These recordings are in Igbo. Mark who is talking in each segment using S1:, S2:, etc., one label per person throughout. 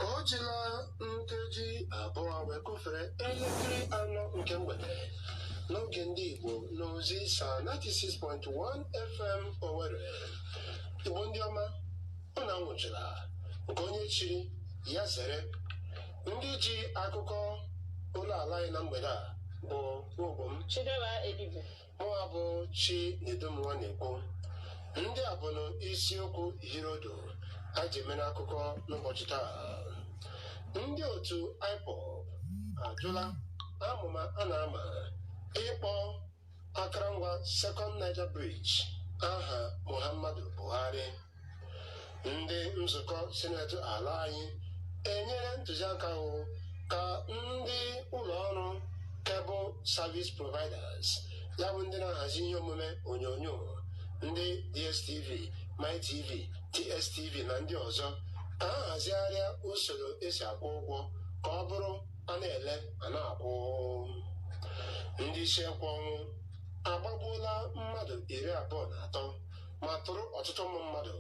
S1: o jila nkeji abụọ wee kụfere elekere anọ nke mgbede n'oge ndị Igbo n'Ozisa 96.1 FM Owerri Igbo ndị ọma unu anwụchula nke onye chiri ya zere ndị ji akụkọ ụlọ ala anyị na mgbede a bụ nwa ogbo m Chidera Edibe
S2: mụnwa
S1: bụ Chinedum Nwanekwu ndị a bụnụ isiokwu hịọrọ ụdụ a ji mere akụkọ n'ụbọchị taa ndị otu IPOB ajụla amụma a na-ama ịkpọ akara ngwa Second Niger Bridge aha Muhammadu Buhari ndị nzukọ sineti ala anyị enyere ntụziaka bụ ka ndị ụlọ ọrụ cable service providers ya bụ ndị na-ahazi ihe omume onyonyo bụ ndị dstv mytv tstv na ndị ọzọ ha hazigharịa usoro esi akwụ ụgwọ ka ọ bụrụ a na-ele a na-akwụ ndị isi ekwe ọnwụ agbagbuola mmadụ iri abụọ na atọ ma tụrụ ọtụtụ ụmụ mmadụ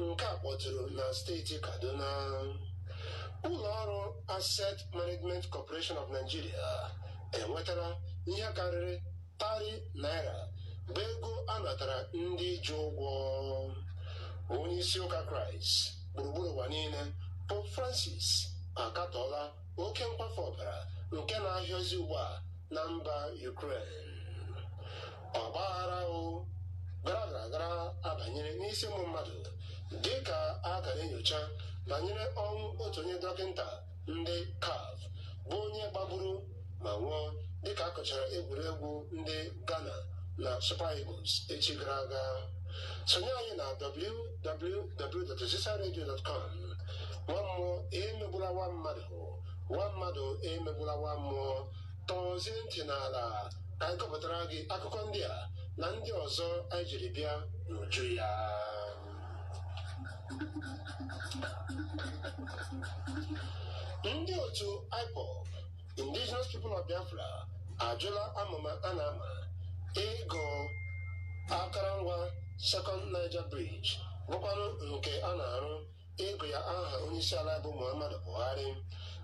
S1: nke a kpọtụrụ na steeti Kaduna ụlọ ọrụ Asset Management Corporation of Nigeria enwetara ihe karịrị tari naira bụ ego a natara ndị ji ụgwọ onye isi ụka Kraịst gburugburu ụwa niile Pope Francis akatọọla oke mkwafu ọbara nke na-ahịọzi ugbu a na mba Ukraine ọgbaghara o gara gara gara abanyere n'isi ụmụ mmadụ dị ka a gara enyocha banyere ọnwụ otu onye dọkịta ndị CAF bụ onye gbagburu ma nwụọ dịka a kụchara egwuregwu ndị Ghana na Super Eagles echi gara aga sonye anyị na www.ozisaradio.com nwa mmụọ emegbula nwa mmadụ nwa mmadụ emegbula nwa mmụọ tọzie ntị n'ala ka anyị kọpụtara gị akụkọ ndị a na ndị ọzọ anyị jiri bịa n'uju ya ndị otu IPOB Indigenous People of Biafra ajụla amụma a na-ama ịgụ akara ngwa Second Niger Bridge bụkwanụ nke a na-arụ ịgụ ya aha onyeisi ala anyị bụ Muhammadu Buhari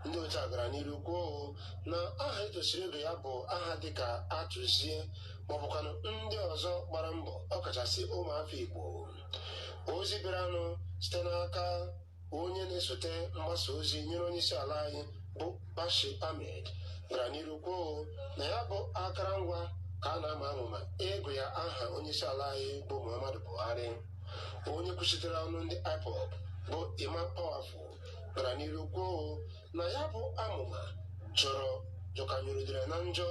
S1: ndị otu a gara n'iru kwuo na aha etosiri ịgụ ya bụ aha dịka Achuzie maọbụkwanụ ndị ọzọ gbara mbọ ọkachasị ụmụafọ Igbo ozi bịaranụ site n'aka onye na-esote mgbasa ozi nyere onyeisi ala anyị bụ Bashir Ahmed gara n'iru kwuo na ya bụ akara ngwa ka a na-ama amụma ịgụ ya aha onyeisi ala anyị bụ Muhammadu Buhari onye kwuchitere ọnụ ndị IPOB bụ Emma Powerful gara n'iru kwuo na ya bụ amụma jọrọ jọkanyụrụ udere na njọ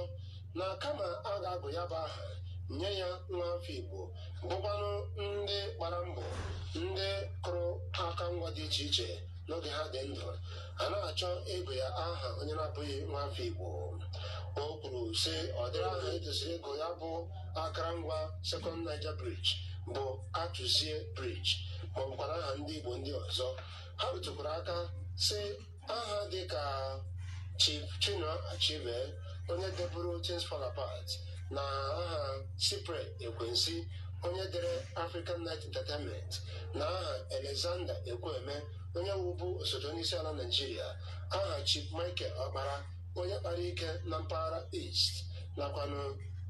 S1: na kama a ga-agụ ya bụ aha nye ya nwa afọ Igbo bụkwanụ ndị gbara mbọ ndị kụrụ aka ngwa dị iche iche n'oge ha dị ndụ a na-achọ ịgụ ya aha onye na-abụghị nwa afọ Igbo o kwuru sị ọ dịrị aha etosiri ịgụ ya bụ akarangwa Second Niger Bridge bụ Achuzie Bridge ma ọ bụkwara aha ndị Igbo ndị ọzọ ha rụtụkwara aka sị aha dị ka Chief Chinua Achebe onye deburu Things Fall Apart na aha Cyprian Ekwensi onye dere African Night Entertainment na aha Alexander Ekwueme onye wụbu osote onyeisiala Naijiria aha Chief Michael Okpara onye kpara ike na mpaghara East nakwanụ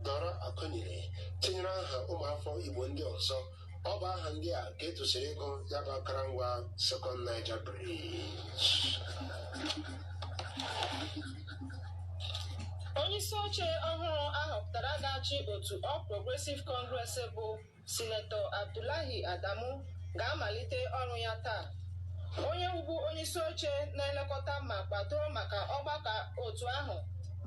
S1: Dora Akunyili tinyere aha ụmụafọ Igbo ndị ọzọ ọ bụ aha ndị a ka etosiri ịgụ ya bụ akarangwa Second Niger Bridge
S2: onyeisi oche ọhụrụ a họpụtara ga-achị otu All Progressive Congress bụ Sinetọ Abdullahi Adamu ga-amalite ọrụ ya taa. Onye wụbu onyeisi oche na-elekọta ma kwado maka ọgbakọ otu ahụ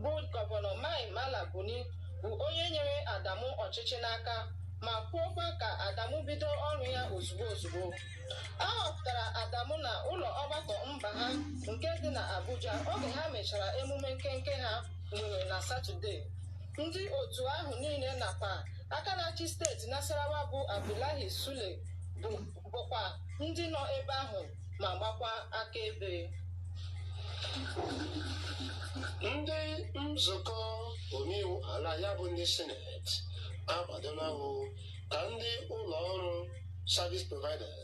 S2: bụ gọvanọ Mai Mala Buni bụ onye nyere Adamu ọchịchị n'aka ma kwuokwa ka Adamu bido ọrụ ya ozugbo ozugbo. A họpụtara Adamu na ụlọ ọgbakọ mba ha nke dị na Abuja oge ha mechara emume nkenke ha nwere na Satọde. Ndị otu ahụ niile nakwa aka na-achị steeti Nasarawa bụ Abdullahi Sule bụ bụkwa ndị nọ ebe ahụ ma gbakwa akaebe.
S1: Ndị nzukọ omeiwu ala ya bụ ndị sineti akwadola ịhụ ka ndị ụlọ ọrụ service providers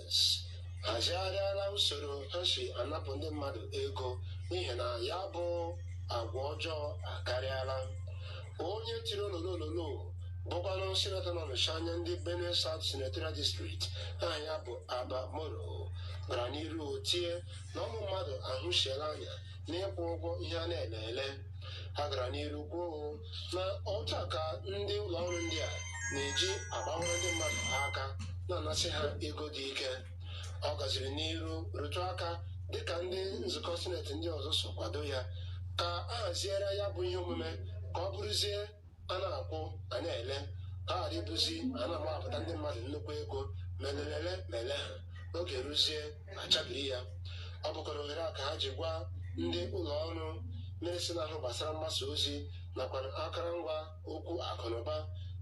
S1: hazigharịala usoro ha si anapụ ndị mmadụ ego n'ihi na ya bụ agwa ọjọọ akarịala onye tiri ololololo bụkwanụ sinetọ na-anọchi anya ndị benue south senatorial district aha ya bụ abba moro gara n'iru tie na ụmụ mmadụ ahụsiela anya n'ịkwụ ụgwọ ihe a na-ele ele ha gara n'iru kwuo na otu a ka ndị ụlọ ọrụ ndị a na-eji agbawara ndị mmadụ aka na-anasị ha ego dị ike ọ gaziri n'iru rụtụ aka dịka ndị nzukọ sineti ndị ọzọ so kwado ya ka a haziere ya bụ ihe omume ka ọ bụrụzie a na-akwụ a na-ele ka ghara ịbụzi a na-agbapụta ndị mmadụ nnukwu ego ma e lele ele ma e leha oge ruzie a chabiri ya ọ bụkwara ohere a ka ha ji gwa ndị ụlọ ọrụ na-esi na-ahụ gbasara mgbasa ozi nakwa akụrụngwa okwu akụnụba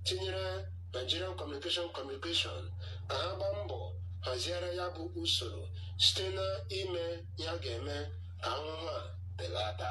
S1: tinyere Nigerian Communication Communication ka ha gbaa mbọ haziere ya bụ usoro site na ime ya ga-eme ka ahụhụ a belata